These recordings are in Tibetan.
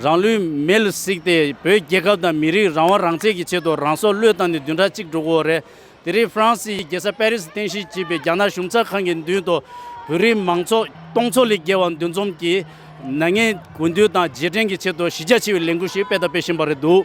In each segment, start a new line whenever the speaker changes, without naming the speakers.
རང་ལུས་མེ་ལ་བསྲེགས་ཏེ་བོད་རྒྱལ་ཁབ་དང་མི་རིགས་རང་དབང་རང་བཙན་གྱི་ཆེད་དུ་རང་སྲོག་བློས་བཏང་ནས་བདུན་ཕྲག་གཅིག་འགྲོ་གི་འོ་རེད། དེ་རིང་ཧྥ་རན་སིའི་རྒྱལ་ས་པེ་རི་སི་རྟེན་གཞི་བྱས་པའི་རྒྱ་ནག་གཞུང་ཚགས་ཁང་གི་མདུན་དུ་བོད་རིགས་མང་ཚོགས་སྟོང་ཚོ་ལས་བརྒལ་བ་འདུ་འཛོམས་ཀྱིས་ནག་ཉེས་དགོས་འདུན་དང་རྗེས་དྲན་གྱི་ཆེད་དུ་གཞི་རྒྱ་ཆེ་བའི་ལས་འགུལ་ཞིག་སྤེལ་དང་སྤེལ་བཞིན་པ་རེད་འདུག།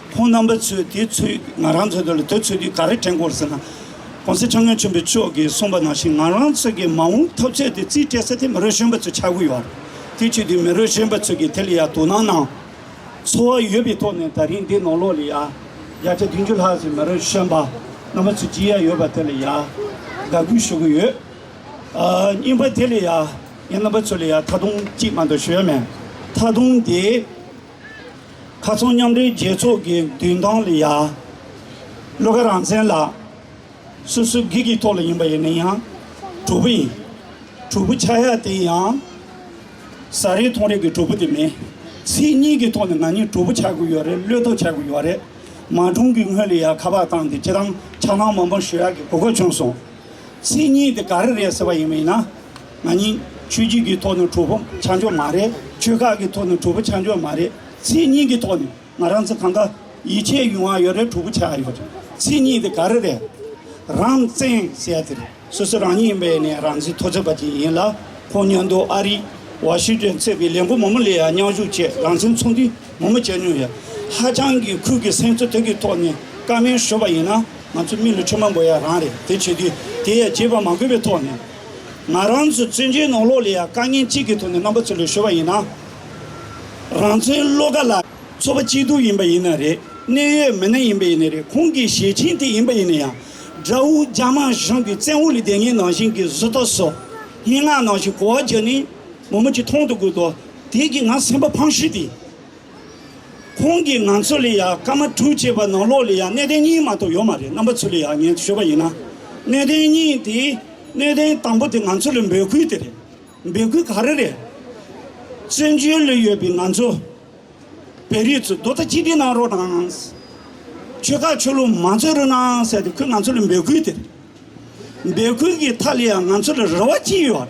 ཁོང་རྣམ་པ་ཚོས་དེ་ཚོས་ང་རང་ཚོ་ལ་དེ་ཚོས་དུས་ག་རེ་དྲན་དགོས་ཟེར་ན། གོང་གསལ་ཁྲིམས་དཔོན་ཆེན་པོ་མཆོག་གིས་གསུངས་པ་ནང་བཞིན་ང་རང་ཚོ་གི་མ་འོངས་འཐབ་རྩོད་དེ་རྩིས་སྤྲད་ས་དེ་མི་རོ་གཞོན་པ་ཚོའི་ཆག་སྒོ་ཡོད། དེ་ཆོས་དུས་མི་རོ་གཞོན་པ་ཚོས་ཀྱི་དེ་ལ་ཡང་དོ་སྣང་གནང། འཚོ་བ་ཡོད་པའི་ཐོག་ནས་ད་རིང་འདི་ནང་ལོགས་ལ་ཡང་བརྒྱ་ཆ་བདུན་ཅུ་ལྷག་ཅིག་མི་རོ་གཞོན་པ་རྣམ་པ་ཚོས་ཇི་ཡང་ཡོད་པ་དེ་ལ་ཡང་དགའ་གུས་ཞུ་གི་ཡོད། རྙིང་པ་དེ་ལ་ཡང་ངའི་རྣམ་པ་ཚོ་ལ་ཡང་ད་དུང་གཅིག་མ་གཏོགས་ཞུ་ཡ་མེད། ད་དུང་དེ། མཁར་ཚོང་མཉམ་འབྲེལ་རྒྱལ་ཚོགས་ཀྱི་མདུན་ཐང་ལ་ཡར། བློ་དགའ་རང་བཙན་ལགས། སོ་སོའི་སྒེར་གྱི་ཐོག་ལ་ཡིན་པ་ཡིན་ན་ཡང་གྲོགས་པོ་ཡིན། གྲོགས་པོ་ཆགས་ཡག་དེ་ཡང། ཟ་རེས་འཐུང་རེས་ཀྱི་གྲོགས་པོ་དེ་མིན། ཚིག་གཉིས་ཀྱི་ཐོག་ནས་ང་གཉིས་གྲོགས་པོ་ཆགས་དགོས་ཡོད་རེད་བློས་གཏོགས་ཆགས་དགོས་ཡོད་རེད། མ་གྲོངས་ཀྱི་སྔོན་ལ་ཡར་ཁ་པར་བཏང་སྟེ་ཁྱེད་རང་ཕྱག་ནང་མང་པོ་ཞུ་ཡག་གི་གོ་སྐབས་བྱུང་སོང། ཚིག་གཉིས་དེ་ག་རེ་རེད་ཟེར་བ་ཡིན་མིན་ན། ང་ནི་ཆོས་བརྒྱུད་ཀྱི་ཐོག་ནས་གྲོགས་པོ་ཆ་འཇོག་མ་རེད། ཆོལ་ཁ་གི་ཐོག་ནས་གྲོགས་པོ་ཆ་འཇོག་མ་རེད། མཚན་ཉིད་ཀྱི་ཐོག་ནས་ང་རང་ཚོ་གང་ག་ཡིད་ཆེས་ཡོང་བ་ཡོད་རེད་གྲོགས་པོ་ཆ་ཡོད་རེད། མཚན་ཉིད་དེ་ག་རེ་རེད། རང་བཙན་ཟེར་དེ་རེད། སོ་སོ་རང་ཉིད་ཡིན་པའི་ནས་རང་བཙན་ཐོག་བརྩད་པ་དེ་ཡིན་ལ། ཁོང་ཉོན་མདོག་ཨ་རི། ཝ་ཤི་ཏོན་ཚེ་པའི་ལས་འགོ་མང་པོ་ལས་ཡང་མཉམ་ཞུགས་བྱས་རང་བཙན་ཚོགས་འདུ་མང་པོ་བྱས་མྱོང་ཡོད། ཧ་ཅང་གི་ཁུལ་གྱི་སེམས་ཚོར་དེ་གི་ཐོག་ནས་ཀ་མེད་ཤོར་པ་ཡིན་ན་ང་ཚོ་མི་ལུས་ཆོས་མང་པོ་ཡ་རང་རེད་དེ་བྱེད་དུས་དེ་ཡ་བྱེད་པ་མ་དགོས་པའི་ཐོག་ནས། ང་རང་ཚོའི་བཙུན་བྱོལ་ནང་ལོགས་ལ་ཡང་དཀའ་ངལ་གཅིག་གི་ཐོག་ནས་རྣམ་པ་ཚོ་ལས་ཤོར་བ་ཡིན་ན། རང་བཙན་བློ་དགའ་ལགས་ཚོ་པ་སྐྱིད་སྡུག་ཡིན་པ་ཡིན་ན་རེད་གནད་ཡོད་མི་སྣ་ཡིན་པ་ཡིན་ན་རེད་ཁོང་གི་ཞེ་ཆེན་དེ་ཡིན་པ་ཡིན་ན་ཡང་དགྲ་བོ་རྒྱ་དམར་གཞུང་གི་བཙན་འོག་ལས་དེ་ངའི་ནང་བཞིན་གྱི་བཟོ་ལྟ་བཟོ་སྙན་ངག་ནང་བཞིན་གོ་བ་རྒྱག་ནས་མོ་མོ་གྱིས་མཐོང་དུ་དགོས་དོ་དེ་གི་ང་སེམས་པ་ཕངས་ཤིས་ཏེ་ཁོང་གིས་ང་ཚོ་ལ་ཡང་སྐར་མ་དྲུག་ཅེས་པ་ནང་ལོགས་ལ་ཡང་གནས་བརྟན་གཉིས་མ་གཏོགས་ཡོད་མ་རེད་རྣམ་པ་ཚོ་ལ་ཡང་ངས་ཤོད་པ་ཡིན་ན། གནས་བརྟན་གཉིས་དེ་གནས་བརྟན་དང་པོ་དེ་ང་ཚོ་ལ་འབོད་ཁུལ་དེ་རེད། འབོད་ཁུལ་ག་རེ་རེད། བཙན་བྱོལ་ལ་ཡོད་པའི་ང་ཚོ་བལ་རིགས་ཚོ་རྡོ་རྩ་གཅིག་སྒྲིལ་གནང་རོགས་གནང། ཆོལ་ཁ་ཆོས་ལུགས་མ་རྩོད་རོགས་གནང་ཟེར་ཏེ་ཁོས་ང་ཚོ་ལ་འབོད་ཁུལ་དེ་རེད། འབོད་ཁུལ་གྱི་མཐའ་ལ་ཡང་ང་ཚོ་ལ་རེ་བ་ཅི་ཡོད།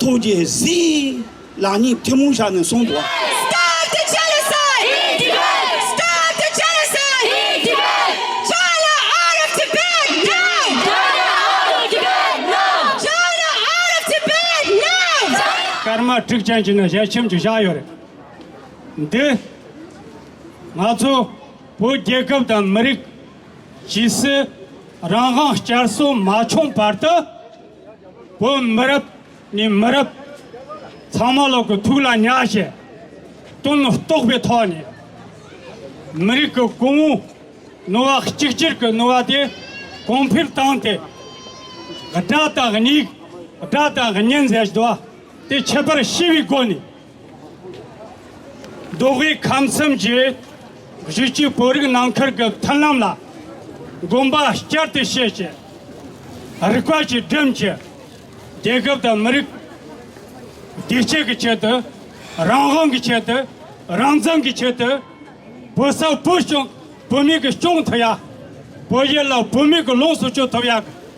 ཐུགས་རྗེ་གཟིགས། ལག་གཉིས་ཐུན་མོང་བཞག་ནས་གསུང་དུ།
སྐར་མ་དྲུག་ཅན་གྱི་ནི་ཞལ་ཆེམས་ཀྱི་ཞག་ཡོད་རེད། འདི་ང་ཚོ་བོད་རྒྱལ་ཁབ་དང་མི་རིགས་ཇི་སྲིད་རང་དབང་བསྐྱར་གསོ་མ་བྱུང་བར་དུ། བོད་མི་རབས་ནས་མི་རབས་ཚང་མ་ལོག་གི་ཐུགས་ལ་ཉག་བཞད་དོན་རྟོགས་པའི་ཐོག་ནས་མི་རིགས་ཀྱི་གོང་བུ་ནོར་བ་གཅིག་གྱུར་གྱི་ནོར་བ་དེ་གོང་འཕེལ་བཏང་སྟེ་དགྲ་དང་སྙིགས་དགྲ་དང་གཉེན་ཟེར་བ་དེ་ཁྱད་པར་ཤེས་པའི་སྒོ་ནས། འབྲོག་པའི་ཁམས་གསུམ་གྱི་གཞིས་བྱེས་བོད་རིགས་ནང་ཁུལ་གྱི་མཐུན་ལམ་ལ་དགོངས་པ་བསྐྱར་དུ་བཞེས་ཆེད། རིག་པ་ཆེ་འབྲིང་གིས་རྒྱལ་ཁབ་དང་མི་རིགས་བདེ་སྐྱིད་ཀྱི་ཆེད་དུ་རང་དབང་གི་ཆེད་དུ་རང་བཙན་གྱི་ཆེད་དུ་བོད་ས་བོད་གཞུང་བོད་མི་གི་སྐྱོང་ཐུབ་ཡ། བོད་ཡུལ་ལ་བོད་མི་གི་ལོངས་སུ་སྤྱོད་ཐུབ་ཡ།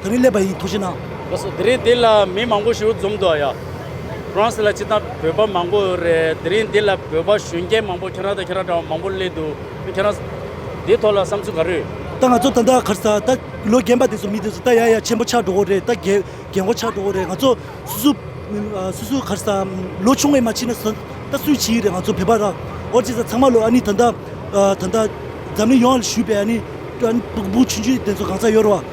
ད་རིང་སླེབས་པ་ཡིན་ཐུགས་རྗེ་གནང། ལགས་སོ་དེ་རིང་འདི་ལ་
མི་མང་པོ་ཞུགས་འཛོམས་འདུག་ཡ། France ལ་ཅི་ད་བོད་པ་མང་པོ་རེད་དེ་རིང་འདི་ལ་བོད་པ་གཞོན་སྐྱེས་མང་པོ་ཁྱེད་རང་དང་ཁྱེད་རང་འདྲ་བ་མང་པོ་སླེབས་འདུག་ཁྱེད་རང། འདི་ཐོག་ལ་བསམ་ཚུལ་ག་རེ། ད་ང་ཚོ་ད་ལྟ་གར་
ས་ད་ལོ་རྒན་པ་དེ་ཚོ་མི་དེ་ཚོ་ད་ཡ་ཡ་ཆེན་པོ་ཆགས་འགྲོ་གོ་རེད་ད་རྒན་རྒན་འགོ་ཆགས་འགྲོ་གོ་རེད་ང་ཚོ་སུ་སུ། སུ་སུ་གར་ས་ལོ་ཆུང་བས་མ་ཕྱིན་ན་ཟ་ད་སུས་བྱེད་ཡི་རེད་ང་ཚོ་བོད་པ་ར་འོར་ཅི་ས་ཚང་མ་ལོ་ཨ་ནི་ད་ད་ད་ད་འཛམ་གླིང་ཡོངས་ལ་བཞུད་པའི་ཨ་ནི། ཨ་ནི་བུ་བུ་ཆུང་ཆུང་དེ་ཚོ་གང་ས་ཡོད་ར་བ།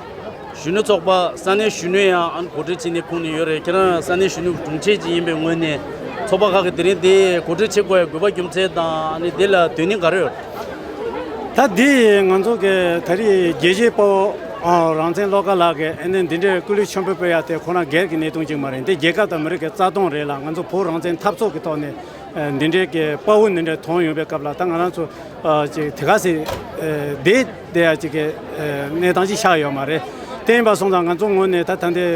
གཞོན་ནུ་ཚོགས་པ་ས་གནས་གཞོན་ནུ་ཡང་ཨང་གོ་སྒྲིག་བྱས་ནས་ཁུངས་ནས་ཡོད་རེད་ཁྱེད་རང་ས་གནས་གཞོན་ནུ་དྲུང་ཆེ་ཅིག་ཡིན་པའི་ངོས་ནས་ཚོགས་པ་ཁག་གི་དེ་རིང་འདིའི་གོ་སྒྲིག་བྱེད་དགོས་པའི་དགོས་པ་རྒྱུ་མཚན་དང་དེ་ལ་དོན་སྙིང་ག་རེ་ཡོད། ད་
འདི་ཡིས་ང་ཚོ་གི་ད་རེས་རྒྱལ་གཅེས་དཔའ་བོ་རང་བཙན་བློ་དགའ་ལགས་ཀྱི་ཨ་ནེ་འདི་འདྲའི་སྐུ་ལུས་མཆོད་འབུལ་སྤེལ་ཡག་དེ་ཁོ་རང་སྒེར་གྱི་གནད་དོན་ཅིག་མ་རེད་འདི་རྒྱལ་ཁབ་དང་མི་རིགས་ཀྱི་རྩ་སྟོང་རེད་ལ་ང་ཚོ་བོད་རང་བཙན་འཐབ་ཚོགས་ཀྱི་ཐོག་ནས་འདི་འདྲའི་དཔའ་བོ་འདི་འདྲ་དོང་ཡོང་པའི་སྐབས་ལ་ད་ང་རང་ཚོ་དེ་ག་ཟེ་འདི་འདི་ཡང་གཅིག་གནས་སྟངས་ཤིག་ཆགས་ཡོད་མ་རེད། དེ་ཡིན་པ་སོང་ཙང་ང་ཚོ་ངོས་ནས་ད་ད་འདི་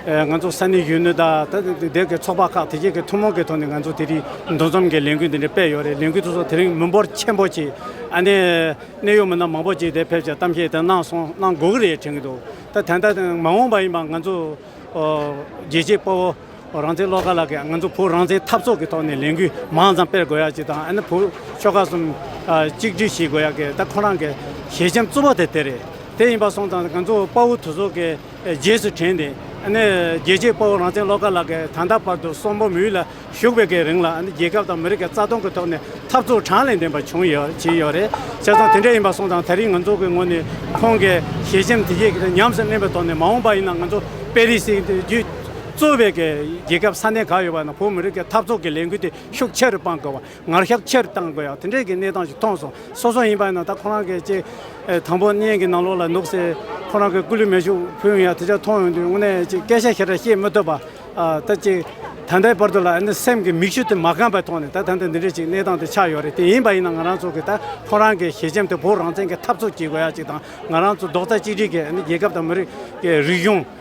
ང་ཚོ་ས་གནས་གཞོན་ནུ་དང་ད་ད་འདས་གི་ཚོགས་པ་ཁག་དེ་རྗེས་ཀྱི་ཐུན་མོང་གི་ཐོག་ནས་ང་ཚོ་དེ་རིང་འདུ་འཛོམས་ཀྱི་ལས་འགུལ་འདི་འདྲ་སྤེལ་ཡོད་རེད་ལས་འགུལ་དེ་ཚོ་དེ་རིང་མི་འབོར་ཆེན་པོ་ཆེ་ཨ་ནེ་གནད་ཡོད་མི་སྣ་མང་པོ་ཆེ་དེ་ཕེབས་ཀྱི་གཏམ་བཤད་དེ་གནང་སོང་གནང་དགོས་ཀྱི་རེད་དྲན་གྱི་འདུག་ད་ད་ལྟ་མ་འོངས་པ་ཡིན་པ་ང་ཚོ་རྒྱལ་གཅེས་དཔའ་བོ། རང་བཙན་བློ་དགའ་ལགས་ཀྱིས་ང་ཚོ་བོད་རང་བཙན་འཐབ་ཚོགས་ཀྱི་ཐོག་ནས་ལས་འགུལ་མང་ཙམ་སྤེལ་དགོས་ཡག་ཅིག་དང་ཨ་ནི་བོད་ཆོལ་ཁ་གསུམ་གཅིག་བསྒྲིལ་ཞིག་དགོས་ཡག་གི་ད་ཁོ་རང་གི་ཞལ་ཆེམས་གཙོ་བོ་དེ་དེ་རེད་དེ་ཡིན་པ་སོང་ཙང་ང་ཚོ་དཔའ་བོ་དུ་ཚོགས་ཀྱི་རྗེས་སུ་དྲན་ཏེ་ཨ་ནི་རྒྱལ་གཅེས་དཔའ་བོ་རང་བཙན་བློ་དགའ་ལགས་ཀྱིས་ད་ལྟ་བར་དུ་སོག་པོ་མི་ཡུལ་ལ་བཞུགས་པའི་ཀྱི་རིང་ལ་ཨ་ནི་རྒྱལ་ཁབ་དང་མི་རིགས་ཀྱི་རྩ་སྟོང་གི་ཐོག་ནས་འཐབ་རྩོད་དྲང་ལས་ལྡན་པ་བྱུང་ཡོད་བྱས་ཡོད་རེད་བྱས་ཙང་དེ་འདྲ་ཡིན་པ་སོང་ཙང་ད་རིང་ང་ཚོ་གི་ངོས་ནས་ཁོང་གི་ཞལ་ཆེམས་དེ་ཉམས་སུ་ལེན་པའི་ཐོག་ནས་མ་འོངས་པ་ཡིན་ན་ང་ཚོ་པེ་རི་སི་རྒྱུད་གཙོ་བའི་རྒྱལ་ཁབ་ས་གནས་གང་ཡོད་པ་དང་བོད་མི་རིགས་ཀྱི་འཐབ་ཚོགས་ཀྱི་ལས་འགུལ་དེ་ཤུགས་ཆེ་རུ་སྤང་དགོས་བ་ངར་ཤ་ཆེ་རུ་གཏང་དགོས་ཡ་དེ་འདྲའི་གི་གནས་སྟངས་ཞིག་མཐོང་སོང་སོ་སོ་ཡིན་པ་ན་ད་ཁོ་རང་གི་ཅེ་དང་པོ་བརྙན་གི་ནང་ལོགས་ལ་ནུག་སེ་ཁོ་རང་གི་སྐུ་ལུས་མེ་ཤུགས་ཕུལ་བའི་ཡ་དེ་ཅག་མཐོང་ཡོང་དུས་དངོས་གནས་ཅེ་སྐད་ཆ་ཞེ་དྲག་བཤད་མི་ཐུབ་པ་ད་ཅེ་ད་ལྟའི་བར་དུ་ལ་ཨ་ནི་སེམས་ཀྱི་མིག་ཆུ་དེ་མ་རྐང་པའི་ཐོག་ནས་ད་ད་ལྟ་འདི་འདྲའི་ཅིག་གནས་སྟངས་དེ་ཆགས་ཡོད་རེད་དེ་ཡིན་པ་ཡིན་ན་ང་རང་ཚོ་གི་ད་ཁོ་རང་གི་ཞེ་ཆེམ་དེ་བོད་རང་བཙན་གི་འཐབ་ཚོགས་བྱེད་དགོས་ཡ་ཅིག་དང་ང་རང་ཚོ་རྡོག་རྩ་གཅིག་སྒྲིལ་གི་ཨ་ནི་རྒྱལ་ཁབ་དང་མི་རིགས་རིག་གཞུང།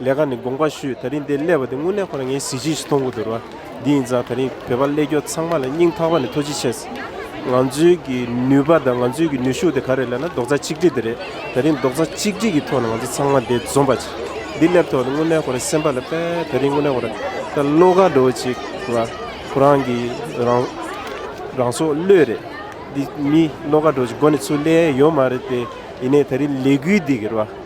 ལས་ཀ་ནི་དགོངས་པ་ཞུས་ད་རིང་འདི་གླས་པ་དེ་དངུལ་གླས་ཁོ་རང་ངའི་གཟི་བརྗིད་ཞིག་མཐོང་གི་འདུག་ར་འདི་ཡིན་ཙང་ད་རིང་བོད་པ་གླས་སྐྱོ་ཚང་མ་ལ་སྙིང་ཐག་པ་ནས་ཐོ་ཅི་ཆེ་སི་ང་ཚོའི་གི་ནུས་པ་དང་ང་ཚོའི་གི་ནུས་ཤུགས་དེ་ག་རེད་ལས་ན་རྡོག་རྩ་གཅིག་སྒྲིལ་དེ་རེད་ད་རིང་རྡོག་རྩ་གཅིག་སྒྲིལ་གི་ཐོག་ནས་ང་ཚོ་ཚང་མ་འདི་འཛོམས་པ་ཅིག་འདི་གླས་ཐོག་ནས་དངུལ་གླས་ཁོ་རང་སེམས་པ་ལ་དཔེ་ད་རིང་དངུལ་གླས་ཁོ་རང་ད་བློ་ཁ་འགྲོ་ཅིག་ང་ཁོ་རང་གི་རང་རང་སྲོག་བློས་རེད་འདི་མི་བློ་ཁ་འགྲོ་ཅིག་སྒོ་ནས་ཚུར་གླས་ཡོད་མ་རེད་དེ་ཡིན་ནས་ད་རིང་ལས་འགུལ་འདི་གི་ར།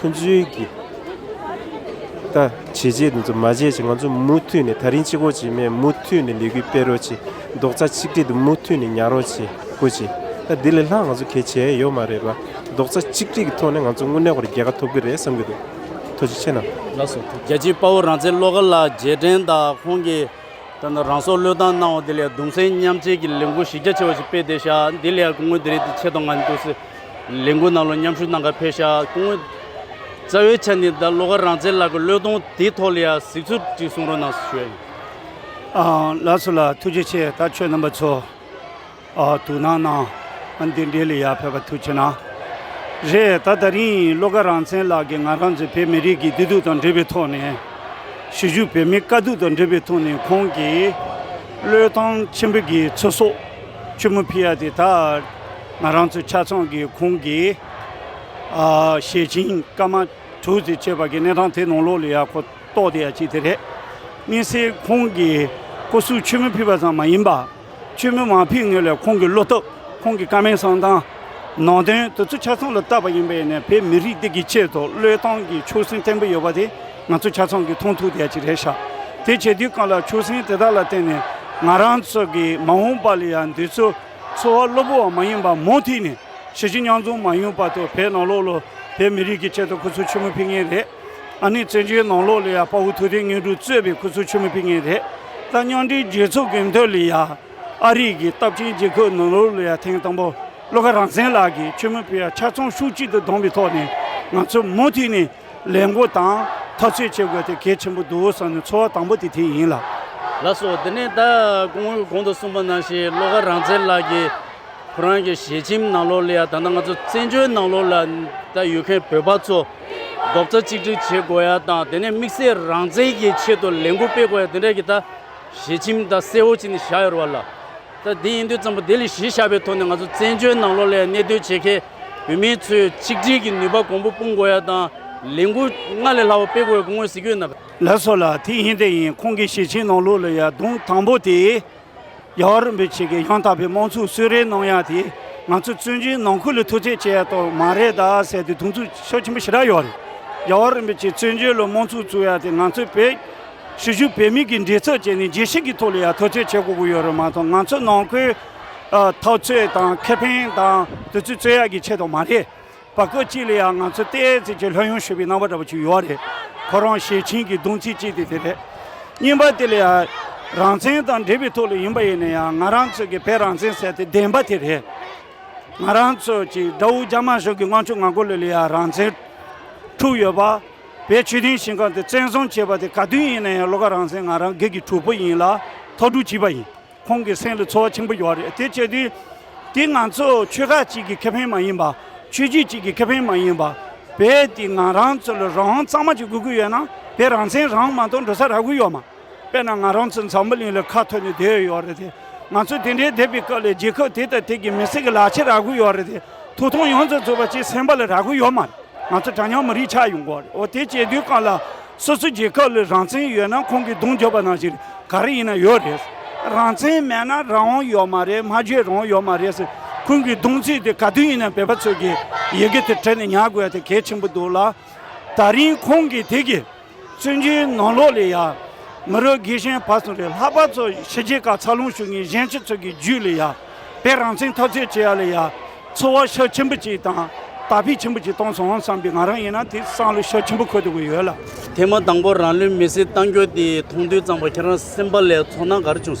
ཁོ་ཚོའི་གི་ད་བྱས་བྱས་འདུག་ཚོད་མ་བྱས་བྱས་ང་ཚོ་མུ་མཐུད་ནས་ད་རིང་གཅིག་གོ་བྱེད་མས་མུ་མཐུད་ནས་ལས་འགུལ་སྤེལ་རོགས་བྱེད་རྡོག་རྩ་གཅིག་སྒྲིལ་དུ་མུ་མཐུད་ནས་ཉར་རོགས་བྱེད་གོ་བྱེད་ད་འདི་ལས་ལྷག་ང་ཚོ་གས་བྱས་ཡོད་མ་རེད་པ་རྡོག་རྩ་གཅིག་སྒྲིལ་གི་ཐོག་ནས་ང་ཚོ་དངོས་གནས་གོ་རེ་རྒྱལ་ཁ་ཐོབ་གི་རེད་བསམ་གི་འདུག་ཐུགས་རྗེ་ཆེ་གནང། ལགས་སོ། རྒྱལ་
གཅེས་དཔའ་བོ་རང་བཙན་བློ་དཀར་ལགས་རྗེས་དྲན་དང་ཁོང་གི་ད་ནི་རང་སྲོག་བློས་བཏང་གནང་བ་དེ་ལས་གདུང་སེམས་མཉམ་བསྐྱེད་ཀྱི་ལས་འགུལ་གཞི་རྒྱ་ཆེ་བ་ཞིག་སྤེལ་བསྡད་ཤག་འདི་ལས་ཀྱི་དངོས་བདེ་རེད་དེ་ཆེད་གཏོང་གནང་རྒྱུ་འདུག་སི། ལས་འགུལ་ནང་ལ་མཉམ་ཞུགས་གནང་སྐབས་ཕེ་ཤ་ཀུང། རྩ་བའི་ཆ་ནས་ད་ལོ་ཁར་རང་བཙན་ལག་གི་བློས་གཏོང་དེའི་ཐོག་ལ་ཡང་གཟིགས་ཚུལ་གཅིག་གསུང་རོགས་གནང་ཞུ་ཡ་ཡིན། ལགས་སོ་
ལགས་ཐུགས་རྗེ་ཆེ་ད་ཁྱོད་རྣམ་པ་ཚོ་དུག་ནང་གནང་ང་འདི་འདྲའི་ལས་ཡག་ཕེབས་པ་ཐུགས་ཆེ་ན་རེད་ད་ད་རིང་བློ་དགའ་རང་བཙན་ལག་གི་ང་རང་ཚོའི་བོད་མི་རིགས་ཀྱི་བདེ་སྡུག་དང་འབྲེལ་བའི་ཐོག་ནས་གཞིས་བཞུགས་བོད་མི་དཀའ་སྡུག་དང་འབྲེལ་བའི་ཐོག་ནས་ཁོང་གིས་བློས་བཏང་ཆེན་པོ་གིས་ཚེ་སྲོག་ཆེན་མོ་ཕུལ་ཡ་དེ་ད། ང་རང་ཚོའི་ཆ་ཚང་གི་ཁོང་གི་ཞེ་ཆིང་སྐར་མ་དྲུག་ཅེས་བྱ་བ་གྱི་གནས་སྟངས་དེ་ནང་ལོགས་ལ་ཡང་གོ་རྟོགས་དེ་ཡང་ཅིག་དེ་རེད། གཉིས་སེ་ཁོང་གིས་སྐུ་གཟུགས་ཆོས་མིན་ཕུད་པ་ཙམ་མ་ཡིན་པར། ཆོས་མིན་མ་ཕུད་ངེས་ལ་ཁོང་གི་བློ་སྟོབས་ཁོང་གི་དཀའ་མའི་གསང་སྟངས། ནང་དོན་དེ་ཚོ་ཆ་ཚང་ལ་བརྟགས་པ་ཡིན་པས་ནས་བོད་མི་རིགས་འདི་གི་ཆེད་དུ་བློས་བཏང་གི་ཆོད་སེམས་བརྟན་པོ་ཡོད་པ་དེ་ང་ཚོ་ཆ་ཚང་གི་མཐོང་ཐུག་དེ་ཡང་ཅིག་རེད། དེ་བྱས་དུས་གང་ལ་ཆོད་སེམས་དེ་དག་ལ་བརྟེན་ནས་ང་རང་ཚོ་གི་མ་འོངས་པ་ལ་ཡང་འདི་ཚོ་འཚོ་བ་སློབ་བུ་བ་མ་ཡིན་པ་མོ་ཐིག་ནས་ཤི་ཅི་ཉང་རྫོང་མ་ཡུང་བར་དུ་བོད་ནང་ལོག་ལོ་བོད་མི་རིགས་ཀྱི་ཆེད་དུ་སྐུ་ཚུལ་ཆུ་མོ་ཕིག་ངེས་རེད། ཨ་ནི་བཙན་བྱོལ་ནང་ལོག་ལི་ཡ་དཔའ་བོ་ཐུགས་ཐིག་ངེས་གྲུ་གཙོས་པའི་སྐུ་ཚུལ་ཆུ་མོ་ཕིག་ངེས་རེད། ད་སྙང་དྲིའི་རྒྱལ་ཚོགས་གི་མདོ་ལི་ཡ་ཨ་རིག་གི་སྟབས་ཆེན་རྒྱལ་ཁབ་ནང་ལོག་ལི་ཡ་ཐེངས་དང་པོ་བློ་ཁ་རང་བཙན་ལགས་ཀྱིས་ཆུ་མོ་ཕིག་ཡ་ཆ་ཚང་ཤུགས་གཅིག་ཏུ་བསྡོམས་པའི་ཐོག་ནས་ང་ཚོ་མོ་ཐིག་ནས་ལས་འགོ་དང་འཐབ་རྩོད་བྱེད་དགོས་དེ་གལ་ཆེན་པོ་འདུག་བསམ་ནས་འཚོ་བ་དང་པོ་དེ་དེ་ཡིན་ལ། ལ་
སོགས་དེ་ནས་ད་གོང་བོའི་གོང་
དུ་གསུངས་པ་
ནང་བཞིན་བློ་དགའ་རང་བཙན་ལགས་ཀྱིས་ཁོ་རང་གི་ཞལ་ཆེམས་ནང་ལོགས་ལ་ཡང་ད་ལྟ་ང་ཚོ་བཙན་བྱོལ་ནང་ལོགས་ལ་ད་ཡོད་མཁན་བོད་པ་ཚོ་རྡོག་རྩ་གཅིག་སྒྲིལ་བྱེད་དགོས་ཡ་དང་དེ་ནས་དམིགས་བསལ་རང་བཙན་གྱི་ཆེད་དུ་ལས་འགུལ་སྤེལ་དགོས་ཡ་དེ་འདྲ་གྱི་ད་ཞལ་ཆེམས་ད་གསལ་བོ་བྱས་ནས་བཞག་ཡོད་རེད་བ་ལ། ད་དེ་ཡིན་དུས་ཙམ་པོ་དེ་ལས་གཞི་བཞག་པའི་ཐོག་ནས་ང་ཚོ་བཙན་བྱོལ་ནང་ལོགས་ལ་ཡང་གནས་སྡོད་བྱེད་མཁན། བུད་མེད་ཚོས་ཆིག་སྒྲིལ་གྱི་ནུས་པ་གོང་བུ་སྤུངས་དགོས་ཡ་དང་ལས་འགུལ་སྔར་ལས་ལྷག་པ་སྤེལ་དགོས་ཡ་གུ་ངོས་གཟིགས་ཡོད་ན། ལ་སོགས་ལ་ཐིག་
ཧིན་དེ་ཡིན་ཁོང་གི་ཞེ་ཆེན་ནང་ལུགས་ལ་ཡ་གདུང་དང་པོ་དེ། རྒྱ་གར་རིན་པོ་ཆེ་གི་ཡང་དག་པའི་དམངས་ཚུགས་གསོལ་རས་གནང་ཡ་དེ་ང་ཚོ་བཙོན་འཇུག་ནང་ཁུལ་ལ་ཐུགས་བརྩེ་བྱེད་ཡ་གཏོགས་མ་རེད་ད་ཟེར་ཏེ་གདུང་ཚུགས་ཤོག་ཆེན་པོ་ཞེ་དྲག་ཡོད་རེད་རྒྱ་གར་རིན་པོ་ཆེ་བཙོན་འཇུག་ལ་དམངས་ཚུགས་བཙུགས་ཡ་དེ་ང་ཚོའི་བོད། ཧྲི་ཞུ་བོད་མི་གི་འདྲི་ཚགས་བྱས་ནས་རྒྱལ་སྲིད་ཀྱི་ཐོག་ལ་ཡ་ཐུགས་བརྩེ་བྱེད་དགོས་གི་ཡོད་རེད་མ་མཐོང་ང་ཚོ་ནང་ཁུལ། ཐག་གཅོད་དང་ཁེ་ཕན་དང་དུས་ཚོད་རྩོད་ཡག་གི་ཆེད་དུ་མ་རེད། བ་ཀོ་གཅིག་ལ་ཡང་ང་ཚོ་བལྟས་ཙི་ཅི་ལྷོད་ཡོང་ཞུས་པའི་རྣམ་པ་འདྲ་པོ་ཅིག་ཡོད་རེད། ཁོ་རང་ཞེ་ཆིན་གྱི་གདུང་ཚིག་གཅིག་དེ་དེ་རེད། གཉིས་པ་དེ་ལ་ཡང་རང་བཙན་དང་འབྲེལ་བའི་ཐོག་ལ་ཡིན་པ་ཡིན་ན་ཡང་ང་རང་ཚོ་གི་བོད་རང་བཙན་ཟེར་དེ་བདེན་པ་དེ་རེད། ང་རང་ཚོ་གྱི་དགྲ་བོ་རྒྱ་དམར་གཞུང་གི་དངངས་ཆུ་ང་གོ་ལོད་ལ་ཡང་རང་བཙན་འཁྲུག་ཡོད། བ་བའི་ཆོས་དོན་ཞིང་ཁང་དེ་བཙན་བཟུང་བྱས་པ་དེ་ག་དུས་ཡིན་ན་ཡང་བློ་ཁ་རང་བཙན་ང་རང་སྒེར་གྱི་གྲོགས་པོ་ཡིན་ལ་ཐོག་དྲུག་བྱིས་པ་ཡིན། ཁོང་གི་སེམས་ལ་ཚོར་བ་ཆེན་པོ་ཡོད་རེད་དེ་བྱས་དུས། དེ་ང་ཚོ་ཆོལ་ཁ་གཅིག་གི་ཁེ་ཕན་མ་ཡིན་པ། ཆོས་རྒྱུད་གཅིག་གི་ཁེ་ཕན་མ་ཡིན་པ། བས་དེ་ང་རང་ཚོ་ལ་རང་དབང་གཙང་མ་གཅིག་དགོས་ཀྱི་ཡོད་ན་བས་རང་བཙན་རང་མ་གཏོང་འགྲོ་ས་རག་གི་ཡོད་མ། དཔེར་ན་ང་རང་ཚོ་འཛམ་བུ་གླིང་ལ་ཁ་ཐོར་ནས་བསྡད་ཡོད་རེད་དེ། ང་ཚོ་དེ་འདྲའི་བསྡད་པའི་སྐབས་ལ་རྒྱལ་ཁབ་དེ་དང་དེ་གི་མི་སེར་གྱི་ལག་ཆ་རག་གི་ཡོད་རེད་དེ། དུ་ཐོང་ཡོངས་རྫོགས་བཟོས་པ་བཅས་སེམས་པ་ལ་ར་མགོ་ཡོད་མ་རེད་ང་ཚོ་གྲ་ཉག་མི་རིགས་ཆགས་ཡོང་གོ་རེད་འོ་དེ་བྱེད་དུས་གང་ལ་སོ་སོའི་རྒྱལ་ཁབ་ལ་རང་བཙན་ཡོད་ན་ཁོང་གི་གདུང་རྒྱོབ་པ་ནང་བཞིན་རེད་ག་རེ་ཡིན་ན་ཡོད་རེད་རང་བཙན་མེད་ན་རང་དབང་ཡོད་མ་རེད་སྨྲ་བརྗོད་རང་དབང་ཡོད་མ་རེད་ཟེར་ཁོང་གི་གདུང་ཚིག་དེ་ག་དུས་ཡིན་ན་བོད་པ་ཚོས་ཀྱི་ཡི་གེ་དེ་བྲིས་ནས་ཉར་དགོས་ཡ་དེ་གལ་ཆེན་པོ་འདུག་ལ་ད་རིང་ཁོང་གི་དེ་གི། བཙན་བྱོལ་ནང་ལོགས་ལས་ཡ། མི་རོ་དགེ་ཤན་བར་གསུམ་རེད་ལྷག་པར་ཚོ་ཕྱི་རྒྱལ་ག་ཚ་ལུང་ཞུགས་ངེས་གཞན་ཆི་ཚོད་ཀྱི་རྒྱུད་ལས་ཡ། བས་རང་བཙན་ཐབས་རྩོད་བྱེད་ཡ་ལས་ཡ། ཚོ་བ་ཤ་ཆེན་པོ་ཅིག་དང་དར་འཕེལ་ཆེན་པོ་ཅིག་གཏོང་སོང་བསམ་པའི་ང་རང་ཡིན་ན་དེ་སང་ལོ་ཤ་ཆེན་པོ་འཁོད་དགོས་ཡོད་ལ། དེ་མ་དང་པོ་
རང་ལུས་མེ་སྲེག་གཏང་རྒྱུ་དེ་མཐོང་དུས་ཙང་པ་ཁྱེད་རང་སེམས་པ་ལས་ཚོར་སྣང་ག་རེ་བྱུང།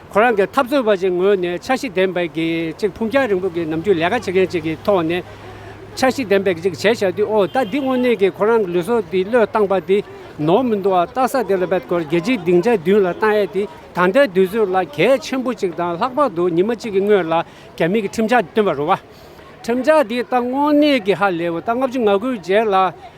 ཁོ་རང་གིས་འཐབ་རྩོད་པ་བཅས་ངོས་ནས་འཆར་གཞི་ལྡན་པའི་གི་གཅིག་འཕུང་རྒྱང་རིང་པོ་གི་ནམ་རྒྱུན་ལས་ཀ་བྱེད་མཁན་ཅིག་གི་ཐོག་ནས། འཆར་གཞི་ལྡན་པའི་གི་གཅིག་བྱས་བྱས་དུས་འོ་ད་འདི་དངོས་གནས་གི་ཁོ་རང་གི་ལུས་སྲོག་དེ་བློས་བཏང་པ་དེ་ནོར་མི་འདུག་ཨ་རྟག་ས་དེ་ལ་འབད་དགོས་རྒྱལ་སྤྱིའི་སྡིངས་ཆ་བདུན་ལ་བཏང་ཡས་དེ་ད་ལྟའི་དུས་ཚོད་ལ་གལ་ཆེན་པོ་གཅིག་དང་ལྷག་པར་དུ་ཉི་མ་གཅིག་གི་སྔོན་ལ་རྒྱ་མི་གི་ཁྲིམས་འཆར་བཏོན་པ་རུ་བ། ཁྲིམས་འཆར་དེ་ད་དངོས་གནས་གི་ཧ་ལས་འོ་ད་ལྔ་བཅུ་ང་དགུའི་རྗེས་ལ།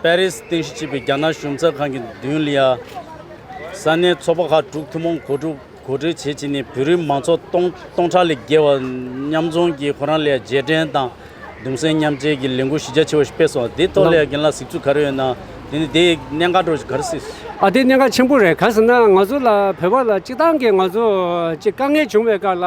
པེ་རིས་རྟེན་གཞི་བྱས་པའི་རྒྱ་ནག་གཞུང་ཚབ་ཁང་གི་མདུན་ལ། ས་གནས་ཚོགས་པ་ཁག་དྲུག་ཐུན་མོང་གོ་སྒྲིག་བྱས་རྗེས་ནས་བོད་རིགས་མང་ཚོགས་སྟོང་སྟོང་ཕྲག་ལས་བརྒལ་བ་མཉམ་འཛོམས་ཀྱིས་ཁོ་རང་ལ་རྗེས་དྲན་དང་གདུང་སེམས་མཉམ་བསྐྱེད་ཀྱི་ལས་འགུལ་གཞི་རྒྱ་ཆེ་བ་ཞིག་སྤེལ་སོང་བ་དེའི་ཐོག་ལ་ཡང་རྒན་ལགས་གཟིགས་ཚུལ་ག་རེ་ཡོད་ན་དེ་ནི་དེ་ཡི་གནད་འགག་སྒྲོག་གི་ག་རེ་སྲིད་སོ། ཨ་དེ་གནད་འགག་ཆེན་པོ་
རེད་ག་ཟེར་ན་ང་ཚོ་ལ་བོད་པ་ལ་སྤྱི་བཏང་གི་ང་ཚོ་ཅིག་དཀའ་ངལ་བྱུང་བའི་སྐབས་ལ།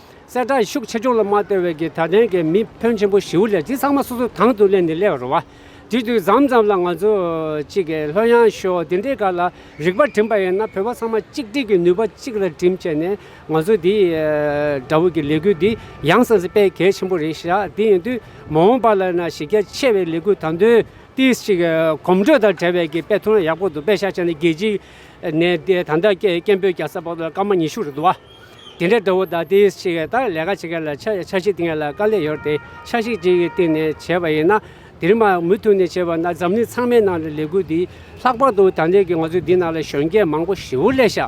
གསལ་བསྒྲགས་ཤུགས་ཆེ་ཆུང་ལ་མ་ལྟོས་བའི་གིས་ད་ལྟའི་གི་མི་ཕོན་ཆེན་པོ་བཞིའུ་ལས་དེ་ཚང་མ་སོ་སོའི་དང་དུ་གླས་ནས་གླས་པར་རོ། དེ་དུས་ཟམ་ཙམ་ལ་ང་ཚོ་གཅིག་གི་ལྷོད་ཡང་ཤོག་དེ་འདྲའི་ག་ལ་རིག་པ་བྲིན་པ་ཡིན་ན་བོད་པ་ཚང་མ་གཅིག་སྒྲིལ་གི་ནུས་པ་གཅིག་ལ་བྲིན་བྱས་ནས་ང་ཚོ་དེ་འདྲ་བོ་གི་ལས་འགུལ་འདི་ཡང་ཟང་ཟིང་སྤེལ་གལ་ཆེན་པོ་རེད་ཤག་དེ་ཡིན་དུས་མ་འོངས་པ་ལ་ན་གཞི་རྒྱ་ཆེ་བའི་ལས་འགུལ་དང་དུ་དེ་གཅིག་གོམ་བགྲོད་དང་བྲལ་བའི་གི་དཔེ་ཐུང་ཡག་པོ་འདུག་དཔེ་ཤག་ཅན་ནི་རྒྱལ་སྤྱི་ནས་དེ་ད་ལྟ་སྐད་སྐད་འབོད་རྒྱག་ས་བོ་ལ་སྐར་མ་ཉི་ཤུ་རེད་འདུག་བ། དེ་འདྲའི་དགྲ་བོ་དག་དེའི་ཕྱི་ག་ལྟར་ལས་ཀ་བྱེད་མཁན་ལ་ཆ་ཤིག་ཏིང་ངེ་ལ་དཀའ་ལས་ཡོད་དེ་ཆ་ཤིག་ཅིག་གི་སྟེང་ནས་བྱས་པ་ཡིན་ན། དེ་རིང་མར་མུ་མཐུད་ནས་བྱས་པ་ན་འཛམ་གླིང་ཚང་མའི་ནང་ལས་འགུལ་འདི་ལྷག་པར་དུ་དང་ལས་ཀྱི་ང་ཚོའི་འདི་ནང་ལ་གཞོན་སྐྱེས་མང་པོ་ཞི་བོ་ལས་ཤ་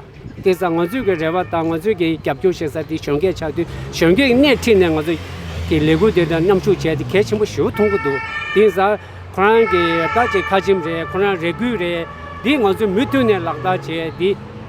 སྟེ་བཟའ་ང་ཚོས་ཀྱི་རེ་བ་དང་ང་ཚོས་ཀྱི་རྒྱབ་སྐྱོར་བྱེད་ས་འདི་གཞོན་སྐྱེས་ཆགས་དུས་གཞོན་སྐྱེས་སྣེ་ཁྲིད་ནས་ང་ཚོ་གི་ལས་འགུལ་འདི་དང་མཉམ་ཞུགས་བྱས་ཏེ་གལ་ཆེན་པོ་ཞི་བོ་མཐོང་གི་འདུག་དེང་སང་ཁོ་རང་གི་བདག་གཅེས་ཁ་ཆེམས་རེད་ཁོ་རང་རེ་སྒུག་རེད་འདི་ང་ཚོས་མུ་མཐུད་ནས་ལག་བསྟར་བྱས་འདི།